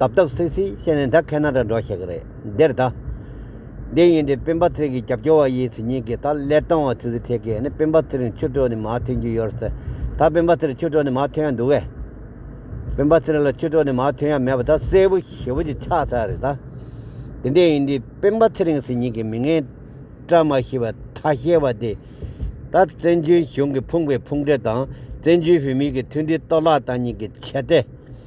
དབ་དབ་སིག་སིག་བཤད་ནས་ད་ཁ་ན་ར་འགྲོ་ཤེས་ཀྱི་རེད་འདིར་ད། འདི་ཡིན་འདི་སྤེན་པ་ཚེ་གི་རྒྱབ་སྐྱོར་བ་ཡིན་ཟེར་ཉིན་གི་ད་ཀླད་སྟོང་བ་ཚིག་ཟིག་ཐེག་གི་ནི་སྤེན་པ་ཚེ་རིང་ཆུ་གྲོགས་ནི་མ་ཐོན་རྒྱུ་ཡོད་ཟེར་ད་སྤེན་པ་ཚེ་རིང་ཆུ་གྲོགས་ནི་མ་ཐོན་ཡ་འདུག་གས། སྤེན་པ་ཚེ་རིང་ལ་ཆུ་གྲོགས་ནི་མ་ཐོན་ཡ་མེད་པ་ད་གསལ་བོ་ཞེ་བོ་ཅིག་ཆགས་ཚར་རེད་ད། འདི་འདི་ཡིན་འདི་སྤེན་པ་ཚེ་རིང་ཟེར་ཉིན་གི་མི་ངན་བཀྲ་མ་ཤིས་པ་ཐ་ཤལ་བ་འདི། ད་བཙན་བྱོལ་གཞུང་གི་ཕུང་པའི་ཕུང་འདྲེ་དང་བཙན་བྱོལ་བོད་མིའི་གི་མཐུན་སྒྲིལ་གཏོར་བརླག་བཏང་ཉིན་གི་བྱས་ཏེ།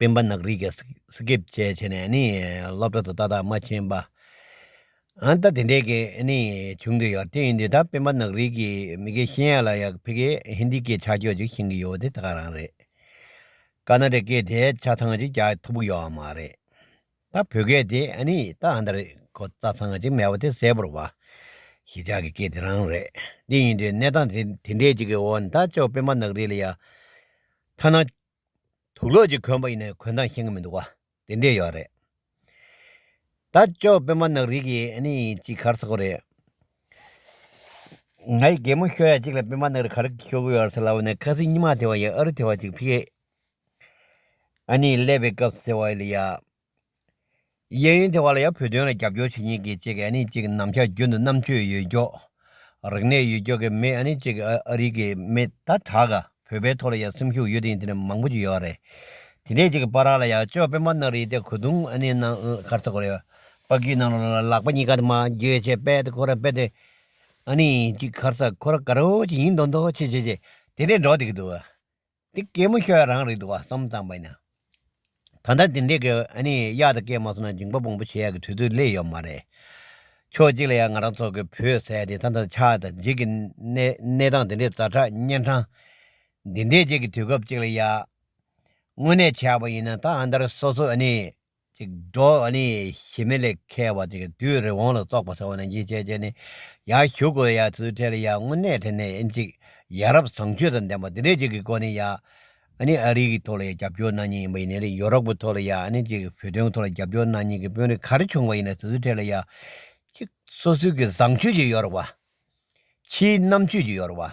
སྤེན་པ་ནག་རིག་གིས་སི་ཀེབ་བཅས་བྱས་ནས་སློབ་གྲྭ་དུ་ཏག་ཏག་མ་ཕྱིན་པ། ད་དེ་འདྲས་ཀྱི་བྱུང་གི་ཡོད་དེ་འདི་ད་སྤེན་པ་ནག་རིག་གིས་མི་གེ་ཤེས་ཡ་ལ་ཡག་ཕི་གེ་ཧིན་དི་གི་ཆ་ཁྱོ་ཅིག་བྱིན་གི་ཡོད་དེ་ད་ག་རང་རེད། ཀ་ན་རེ་ཀེ་དེ་ཆ་ཚང་ཅིག་རྒྱག་ཐུབ་གི་ཡོད་མ་རེད། ད་བོད་སྐད་དེ་ཨ་ནི་ད་ཨ་འདྲ་རེད་ཁོ་རྩ་ཚང་གཅིག་མེད་པ་དེ་གསལ་པོར་བ། ཞི་ཅག་གི་སྐད་དེ་རང་རེད། འདི་ཡིན་དུས་གནས་སྟངས་དེ་འདྲས་ཅིག་གི་འོག་ནས་ད་ཅོག་པད་མ་ནག་རིལ་ཡ། ཐ་ན། དུག་ལོག་ཅིག་གོན་པ་ཡིན་ན་གོན་སྟངས་ཤེས་ཀྱི་མི་འདུག་བ། དེ་འདྲས་ཡོད་རེད། ད་ཅོག་པད་མ་ནག་རིལ་གྱི་ཨ་ནི་ཅིག་གར་ཚ་གོ་རེད། ང་ཡི་རྒན་མོ་ཤོ་ཡ་ཅིག་ལ་པད་མ་ནག་རིལ་གར་ཤོར་གི་ཡོད་རེད་ཟེར་ལབ་ནས་ཁ་སིང་སྙི་མ་དེ་བ་ཡི་ཨ་རུ་དེ་བ་ཅིག་ཕི་ཀེ་ཨ་ནེས་ཀླད་པའི་སྐབས་ཟེར་བ་ལ་ཡ། གཡས་གཡོན་དེ་བ་ལ་ཡ་བོད་དོན་ལ་རྒྱབ་སྐྱོར་བྱེད་མཁན་གྱི་གཅིག་གི་ཨ་ནེ་གཅིག་གི་ནམ་ཞར་རྒྱུན་དུ་རྣམ་དཔྱོད་ཡོད་མགྱོགས། རིག་གནས་ཡོད་མགྱོགས་ཀྱི་མི་ཨ་ནེ་གཅིག་ཨ་རིག་གི་མི་ད་དྲག་ག་བོད་པའི་ཐོག་ལ་ཡ་སེམས་ཤུགས་ཡོད་དེ་ཡིན་དེ་ནས་མང་པོ་ཅིག་ཡོད་རེད། དེ་འདྲའི་གཅིག་པ་ར་ལ་ཡ་ཅོ་སྤེན་པ་ནག་རིལ་དེ་གོ་དུང་ཨ་ནེ་ནང་ཁར་ཚོ་གོ་རེ། དཔའ་རྒྱུད་ནང་ལ་ལག་པ་གཉིས་ཀ་དེ་མ་འགྱོད་ཆེ་དཔལ་དེ་ཁོ་ར་དཔལ་དེ། ཨ་ནེ་གཅིག་ཁར་ས་ཁོ་ར་ག་རོ་ཅིག་ཡིན་མདོག་མདོག་ཆེ་ཆེ་ཆེ་དེ་འདྲའི་འགྲོ་བསྡད་ཀྱི་འདུག་འདི་སྐྱེས་མོ་ཁྱོད་རང་རེད་འདུག་བསམ་བསམ་པ་ཡིན། ད་ལྟ་དེ་འདྲས་ཀྱི་ཨ་ནི་གཡག་དང་སྐད་མ་སོང་ན་འཇིང་པ་སྤོང་པོ་བྱེད་ཡག་གི་དུས་ཚོད་སླེབས་ཡོད་མ་རེད། ཕྱོགས་གཅིག་ལ་ཡང་ང་རང་ཚོ་གི་བོད་ཟས་དེ་ད་ལྟ་ཆགས་དང་འཇིག་གི་གནས་སྟངས་དེ་འདྲས་རྫ་ཁྲག་གཉན་འཕྲང་འདི་འདྲས་བཅས་ཀྱི་དུས་སྐབས་གཅིག་ལ་ཡག། དངོས་གནས་བྱས་པ་ཡིན་ན་ད་ཨ་མདར་སོ་སོ་ཨ་ནི་ཅིག། འགྲོ་བ་ནི་ཞི་མི་ལས་མཁས་པ་ཅིག་དུས་རི་བོང་ལ་སོགས་པ་ཚོགས་ནས་འཇིགས་བྱེད་ཅིག་ནི། ཡང་བཞུགས་གོ་ཡ་ཚུལ་ཐལ་ཡང་དངོས་གནས་དེ་ནི་ཨེ་འཇིགས། ཡ་རབས་བཟང་སྤྱོད་དང་ལྡན་པ་དེ་འདྲའི་ཅིག་གི་གོ་ནི་ཡ། ནི་ཨ་རིག་གི་ཐོག་ལ་ཡ་རྒྱབ་སྐྱོར་གནང་ཉེན་ཡིན་པ་ཡིན་ནི་རི་ཡོ་རོབ་གི་ཐོག་ལ་ཡ་ནི་ཅིག་བོད་དོན་གི་ཐོག་ལ་རྒྱབ་སྐྱོར་གནང་ཉེན་གི་དཔོན་རིགས་གར་བྱུང་བ་ཡིན་ནི་ཚུལ་ཐལ་ཡ། ཅིག། སོ་སོའི་གི་བཟང་སྤྱོད་ཀྱི་ཡོ་རོབ་བ། ཕྱིའི་རྣམ་དཔྱོད་ཀྱི་ཡོ་རོབ་བ།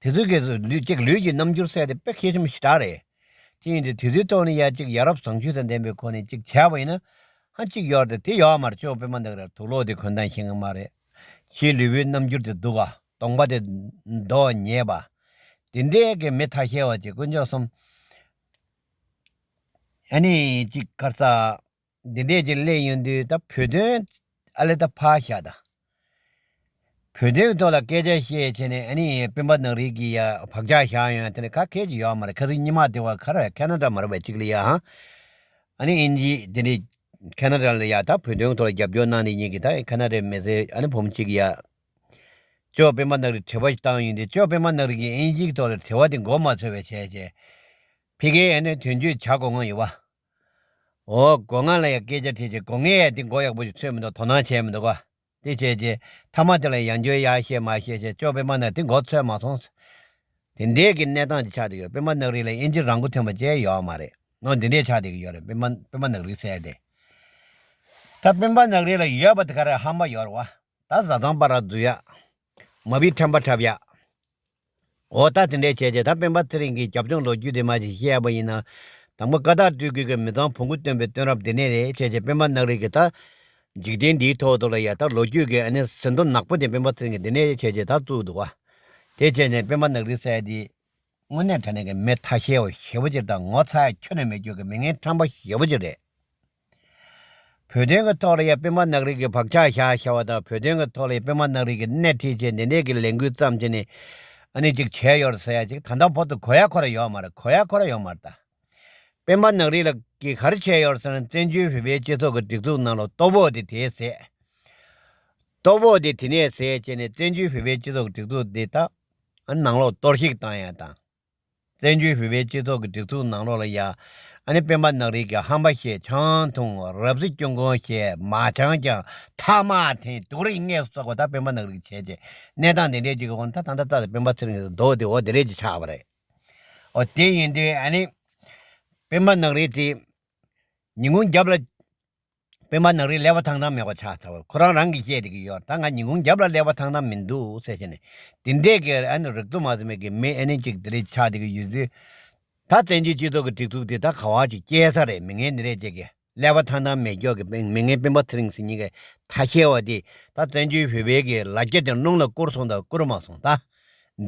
དེ་ཚོའི་སྐད་དུ་ལུས་ཀྱི་རྣམ་འགྱུར་གསལ་ཏེ་དཔེ་མཁས་ཆེན་པོ་ཞེ་དྲག་རེད། ཅི་ཡིན་དུ་དེ་ཚོའི་ཐོག་ནས་ཡ་གཅིག་ཡ་རབས་བཟང་སྤྱོད་དང་ལྡན་པའི་སྒོ་ནས་ཅིག་བྱས་པ་ཡིན་ན། ཧ་ཅིག་ཡོར་ཏེ་དེ་ཡོག་མར་ཅོག་དཔེ་མ་འདང་ར་དུག་ལོག་དེ་གོན་ཐང་ཤེས་ངེས་མ་རེད། ཁྱིའི་ལུས་པོའི་རྣམ་འགྱུར་དེ་དུག་ཨ་སྟོང་པ་དེ་མདོ་ཉེས་པ། དེ་འདྲའི་གི་མི་ཐ་ཤལ་བ་ཅིག་དཀོན་མཆོག་གསུམ། ཨ་ནི་ཅིག་སྐར་རྩ། འདི་འདྲས་ཀྱི་གླེང་ཡོང་དུས་ད་བོད་དོན་ཨ་ལེ་ད་ཕག་ཤ་ད། བོད་དོན་ཐོག་ལ་སྐད་ཆ་བཤད་བྱས་ནས་ཨ་ནི་སྤེན་པ་ནག་རིལ་གྱི་ཡ་བག་ཆགས་བཞག་ཡོང་དེ་ནི་ཁ་ཁད་ཅིག་ཡོག་མ་རེད་ཁ་ཟིག་ཉི་མ་དེ་བ་ཁ་ར་ཁ་ན་དྲ་མ་ར་བ་ཅིག་ལ་ཡ་ཧང་ཨ་ནི་ཨིན་ཇི་དེ་འདྲས་ཁ་ན་དྲ་ལ་ཡ་ད་བོད་དོན་ཐོག་ལ་རྒྱབ་སྐྱོར་གནང་དེ་ཉིད་ཀྱི་ད་ཁ་ན་དྲའི་མི་སེར་ཨ་ནི་བུམ་ཅིག་ཡ། ཅོག་སྤེན་པ་ནག་རིལ་དྲི་བ་ཞིག་བཏང་ཡོང་དུས་ཅོག་སྤེན་པ་ནག་རིལ་གྱི་ཨིན་ཇིག་ཐོག་ལ་དྲི་བ་དེ་མགོ་མ་ཚོས་བས་བྱས་བྱས། ཕི་གེ་ཨ་ནི་དོན་གཅོད་བྱ་དགོ་ང་ཡོ་བ། འོ་སྒོ་ང་ལ་ཡང་སྐད་ཆ་དྲིས་ཅིག་སྒོ་ངའི་ཡ་འདི་མགོ་ཡག་པོ་ཞིག་ཚོས་མི་འདུག་དོ་སྣང་བྱས་མི་འདུག་བ། དེ་བྱས་རྗེས་མཐའ་མ་དེ་ལ་ཡང་འགྱོད་ཡ་ཤེས་མ་ཤེས་ཞེས་ཅོག་པད་མ་ནག་དེ་མགོ་ཚོས་མ་སོང། དེ་འདས་ཀྱི་གནས་སྟངས་ཀྱི་ཆགས་འདི་ཡོད་པད་མ་ནག་རིགས་ལ་དབྱིན་ཇི་རང་མགོ་ཐོན་པ་བཅས་ཡོད་ཨ་མ་རེད་ནོ་འདི་འདས་ཆགས་འདི་གི་ཡོད་རེད་པད་མ་ནག་རིགས་གསལ་ཏེ། ད་པད་མ་ནག་རིགས་ལ་ཡོད་པ་དེ་ག་རེད་ཧམ་པ་ཡོད་རེད་བ། ད་བཟའ་ཚང་པ་ར་འཛུལ་ཡ། མ་བིས་ཁྲམ་པ་འཁྲབ་ཡ། འོ་ད་དེ་འདྲའི་བྱས་རྗེས་ད་སྤེན་པ་ཚེ་རིང་གིས་རྒྱབ་ལྗོངས་ལོ་རྒྱུས་དེ་མ་ཞིག་བཤད་ཡག་པ་ཡིན་ན། དང་པོ་ཀ་དག་སྤྲུལ་སྐུའི་གི་མི་ཚང་བོང་གུ་སྟོན་པའི་སྟོན་རབས་འདི་ནས་རེད་བྱས་རྗེས་སྤེན་པ་ནག་རིག་གི་ད། འཇིག་རྟེན་འདིའི་ཐོག་ཏུ་ལ་ཡ་ད་ལོ་རྒྱུས་གི་ཨ་ནི་ཟིན་ཐོ་ནག་པོ་དེ་སྤེན་པ་ཚེ་རིང་གིས་འདི་ནས་བྱས་རྗེས་ད་བཙུགས་འདུག་བ། དེ་བྱས་ནས་སྤེན་པ་ནག་རིག་སྲས་དེ། དངོས་གནས་དྲ་གནས་ཀྱི་མི་ཐ་ཤལ་བ་ཞེ་བོ་ཅིག་དང་ངོ་ཚ་ཁྱོད་ནས་མི་སྐྱོད་ཀྱི་མི་ངན་ཁྲམ་པ་ཞེ་བོ་ཅིག་རེད། བོད་དོན་གྱི་ཐོག་ལ་ཡང་དཔོན་དམག་ནག་རིལ་གྱི་བག་ཆགས་བཞག་བྱ་བ་དང་བོད་དོན་གྱི་ཐོག་ལ་ཡང་དཔོན་དམག་ནག་རིལ་གྱི་སྣེ་ཁྲིད་བྱས་ནས་གནད་ཀྱི་ལས་འགུལ་བརྩམས་བྱས་ནས་ཨ་ནི་ཅིག་བྱས་ཡོད་རེད་ཟེར་ཡ་ཅིག་ད་ལྟ་བོད་དུ་གོ་ཡ་ཁོ་ར་ཡོད་མ་རེད་གོ་ཡ་ཁོ་ར་ཡོད་མ་རེད་ད། དཔོན་དམག་ནག་རིལ་ལ་གིས་ག་རེ་བྱས་ཡོད་རེད་ཟེར་ན་བཙན་བྱོལ་བོད་པའི་སྤྱི་ཚོགས་ཀྱི་སྒྲིག་འཛུགས་ནང་ལ་ལྟོ་བོ་དེ་དེ་ཟས། ལྟོ་བོ་དེ་དེ་ནས་ཟས་བྱས་ནས་བཙན་བྱོལ་བོད་པའི་སྤྱི་ཚོགས་ཀྱི་སྒྲིག་འཛུགས་དེ་ད་ཨ་ནང་ལོག་གཏོར་བཤིག་བཏང་ཡ་དང། བཙན་བྱོལ་བོད་པའི་སྤྱི་ཚོགས་ཀྱི་སྒྲིག་འཛུགས་ནང་ལོགས་ལ་ཡ་ཨ་ནི་སྤེན་པ་ནག་རིལ་གྱི་ཧམ་པ་ཞེས་ཆང་འཐུང་རབ་གཟི་སྐྱོན་གོང་ཞེས་མ་ཆང་ཀྱང་ཐ་མག་འཐེན་དུག་རིགས་ལྔས་བསོགས་པ་དག་སྤེན་པ་ནག་རིལ་གྱི་བྱས་རྗེས་གནས་སྟངས་དེ་འདྲའི་ཅིག་གི་འོག་ན་ད་ད་ད་ད་སྤེན་པ་ཚེ་རིང་གི་མདོག་དེ་འོ་དེ་རེད་ཅེས་ཆགས་པ་རེད། འོ་དེ་ཡིན་དུས་ཨ་ནི་སྤེན་པ་ནག་རིལ་གྱིས་ཉིན་གུང་རྒྱབ་ལ་སྤེན་པ་ནག་རིས་ཀླད་པ་ཐང་ཐང་མེད་པ་ཆགས་ཚར་བ་ཁོ་རང་རང་གིས་བཤད་དེ་གི་ཡོད་ད་ང་ཉིན་གུང་རྒྱབ་ལ་ཀླད་པ་ཐང་ཐང་མིན་འདུག་ཟེར་བཞིན་ནས་དེ་འདྲས་ཀི་ཨ་ནི་རིག་ཏུ་མ་ཟིན་པའི་གི་མི་ཨེ་ནི་ཅིག་དེ་རིས་ཆགས་དེ་གི་ཡོད་ཚུལ། ད་བཙན་བྱོལ་སྤྱི་ཚོགས་ཀི་སྒྲིག་འཛུགས་དེ་ད་ག་བ་ཅིག་སྐྱེལ་ས་རེད་མི་ངན་འདི་རེད་ཅེས་ཀི་ཀླད་པ་ཐང་ཐང་མེད་སྐྱོགས་ཀི་སྤེན་མི་ངན་སྤེན་པ་ཚེ་རིང་ཟེར་གཉིས་ཀའི་ཐ་ཤལ་བ་དེས་ད་བཙན་བྱོལ་བོད་པའི་གི་ལ་རྒྱ་དེ་རླུང་ལ་བསྐུར་སོང་དང་བསྐུར་མ་སོང་ད།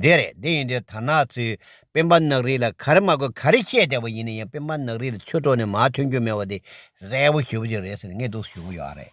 འདི་རེད་འདི་ཡིན་འདི་དར་ནག་ཚོས་སྤེན་པ་ནག་རིལ་ལ་ག་རེ་མ་དགོས་ག་རེ་བཤད་བསྡད་པ་ཡིན་ན་ཡང་སྤེན་པ་ནག་རིལ་ལ་ཆོས་གྲོགས་ནས་མ་ཐོན་རྒྱུ་མེད་པ་དེ་གསལ་བོ་ཞུ་རྒྱུ་རེད་ཟེར་ནས་ངས་སྡུག་ཟུག་ཡོང་གི་ཡོད་རེད།